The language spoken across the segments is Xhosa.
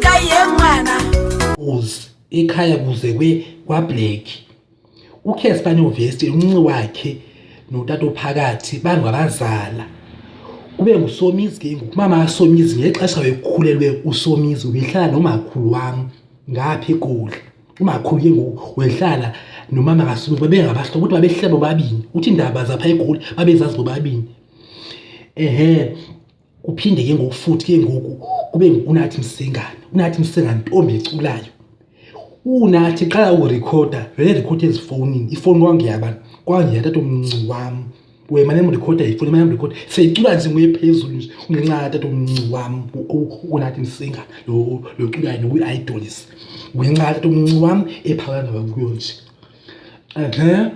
kayemwana uz ekhaya kuze kwe kwablack ukhespa novesti umnci wakhe notata ophakathi bangabazala kube ngusomizi ke ngoku umama kasomizi ngexesha wekhulelwe usomizi ubehlala nomakhulu wam ngapha egoli umakhulu ke ngoku wehlala nomama kasomizi babengabahlobo kodwa babehlala bobabini uthi indaba zapha egoli babezazi bobabini ehe kuphinde ke ngoku futhi ke ngoku kube unathi msingane unathi msingane ntombi eculayo unathi qala urekhoda vele rekhoda ezifowunini ifowuni kwangeyaba kwangeya tata omnci wam wema nemrekhoda ifowuni mane mrekhoda seyicula nje nguye phezulu nje ungenxa tata omnci wam unathi msingane lo lo culayo nokuyi-idolis ngenxa tata omnci wam ephakana kuyo nje ehe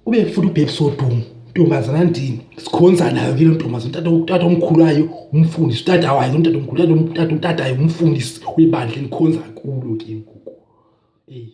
ube futhi ubhebhi sodumo ntombazana ndini sikhonza nayo ke lo ntombazana utata omkhulu wayo umfundisi utata wayo lo mtata omkhulu utata utatayo umfundisi webandla enikhonza kulo ke ngoku eyi